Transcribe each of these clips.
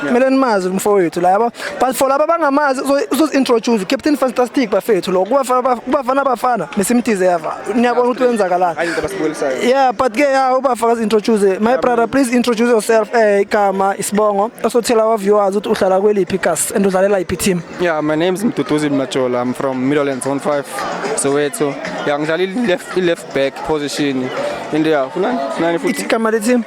kumele nimazi umfowethu laba but for laba bangamazi uzozi-introduce captain fantastic bafethu lo kubafana bafana mesimtize yava niyabona ukuthi wenzakalani yeah but ke ya ubafa kazi-introduce my brother please introduce yourself um igama isibongo osothela waviewers ukuthi uhlala kweliphi gas and udlalela yiphi team yeah my name is mduduzi majola i'm from middlelands 15 soweto ya ngidlala i-left back position into ya kunani kunani futhi Ithi kama lethi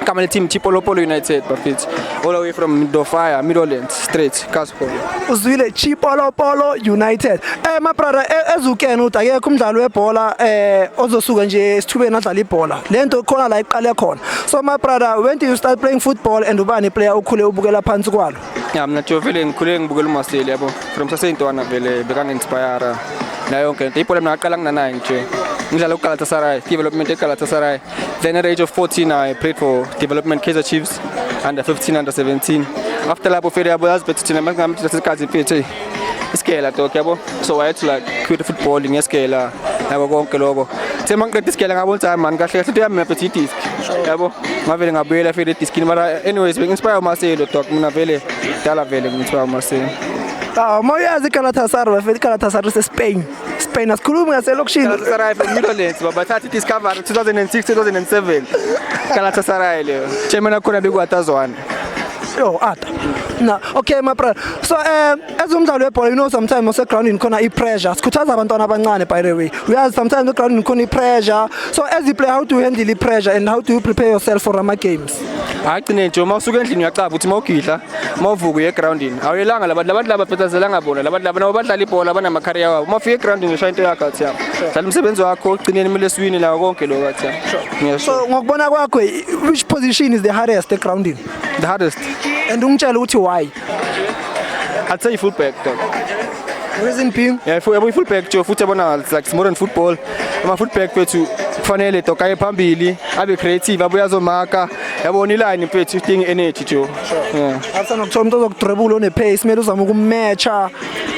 kama team Chipolopolo United bafethu all the way from Dofire Middlelands straight Casper uzwile Chipolopolo United. Eh my brother e- ezukene uthi akekho umdlali webhola eh ozosuka nje esithubeni adlala ibhola. Lento khona la iqale khona. So my brother when did you start playing football and ubani player okhule ubukela phansi kwalo? Ya mina nje vele ngikhule ngibukela uMaseli yabo. From saseyintwana vele bekangi-inspire nayo yonke into. Ibhola mina ngaqala nginanaye nje. Ngidlala uGalatasaray, development eGalatasaray. Then at age of 14 I played for development Kaizer Chiefs under 15 under 17. After lapho vele yabo yazi bethu thina manje ngamthi lesikhathi phethe. isigela dog yabo so wayethi like cute football ngesigela yabo konke lokho the mangiqeda isigela ngabona ukuthi hayi mani kahle kahle into yami ngaphethe idisk yabo ngavele ngabuyela fela ediskini mara anyways bengi-inspire umarcelo dog mina vele dala vele ngi-inspire umarcelo Ah, uma uyazi iGalatasaray bafethu iGalatasaray seSpain. Spain asikhulumi ngaselokishini. Galatasaray from Netherlands babathatha i-discovery 2006 2007 Galatasaray leyo chairman akhona bekuwatazwana Yo, ata. Na, okay my brother. So um as umdlalo webhola you know sometimes ose ground khona i pressure. Sikhuthaza abantwana abancane by the way. We are sometimes the ground khona i pressure. So as you play how do you handle the pressure and how do you prepare yourself for ama games? Agcine nje uma usuka endlini uyacaba ukuthi mawugidla mawuvuka uye groundini. Awuyelanga labantu labantu laba phetazelanga bona labantu laba nabo badlala ibhola banama career wabo. Uma ufika egroundini ushaya into yakho athi yabo. Dlala umsebenzi wakho ugcineni kumele siwine lawo konke lokho athi yabo. Yes. so ngokubona kwakho which position is the hardest egroundini The hardest. and ungitshela ukuthi why I'd say fullback. dog. reason being Yeah, if we have fullback nje futhi yabona it's like modern football. Ama fullback bethu kufanele doka ye phambili, abe creative, abuye azomaka. Yabona iline bethu idinga energy nje. Yeah. after nokuthola umuntu ozokudrebula onepace kumele uzame ukumatcha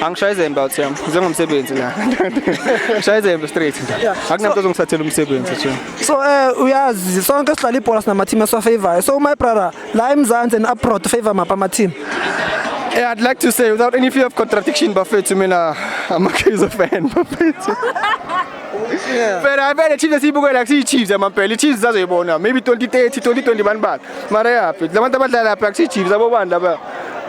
Angishaye izembe out yam. Zengomsebenzi la. Ngishaye izembe straight. Akunamntu ozongithathela umsebenzi nje. so eh uyazi sonke sidlala ibhola sinama team esiwafavorayo so my brother la eMzansi and abroad favor mapha ama team Eh, I'd like to say without any fear of contradiction bafethu mina I'm a Kaizer fan bafethu. Phela phela Chiefs siyibukela kusiyi Chiefs amampela. Chiefs zazoyibona maybe 2030 2020 bani bani. mara yaphi labantu abadlala lapha akusichiefs abobani laba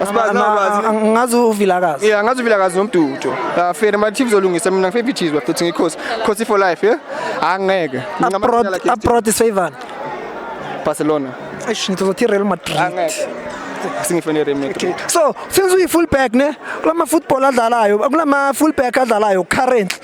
asibazi nabazi ngazi uvilakazi yeah ngazi uvilakazi nomdudo la fair ma chiefs olungisa mina ngifebi chiefs bafethu ngikhosi khosi for life yeah angeke abroad is favor barcelona eish ngizothi real madrid angeke singifone Real Madrid so since uyi full back ne kulama football adlalayo kulama full back adlalayo currently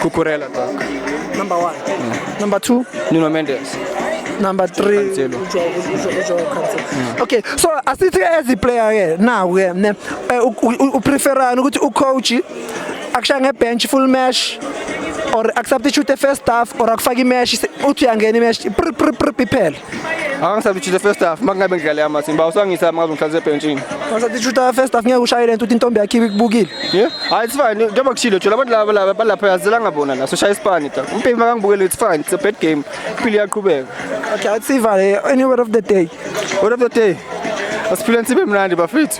Cucurella talk. Number one. Mm. Number two. Nuno Mendes. Number three. Cancelo. Okay, so asithi as a player ke now ke ne eh, u preferani ukuthi u coach akusha nge bench full match or akusubstitute first half or akufaki match uthi uyangena i match iphela. Angisabichile first half makungabe ngidlale amathini ba usangisa makabe ngihlale ebhentshini. Angisabichile first half ngeke ushayele ntuthi intombi yakhe ibukile. Yeah. Hayi it's fine njengoba kushilo nje labantu laba laba balapha yazela ngabona la so shaya isipani ta. Umpimi makangibukele it's fine it's a bad game. Impilo iyaqhubeka. Okay, athi sivale any word of the day. Word of the day. Asiphile nsibe mnandi bafethu.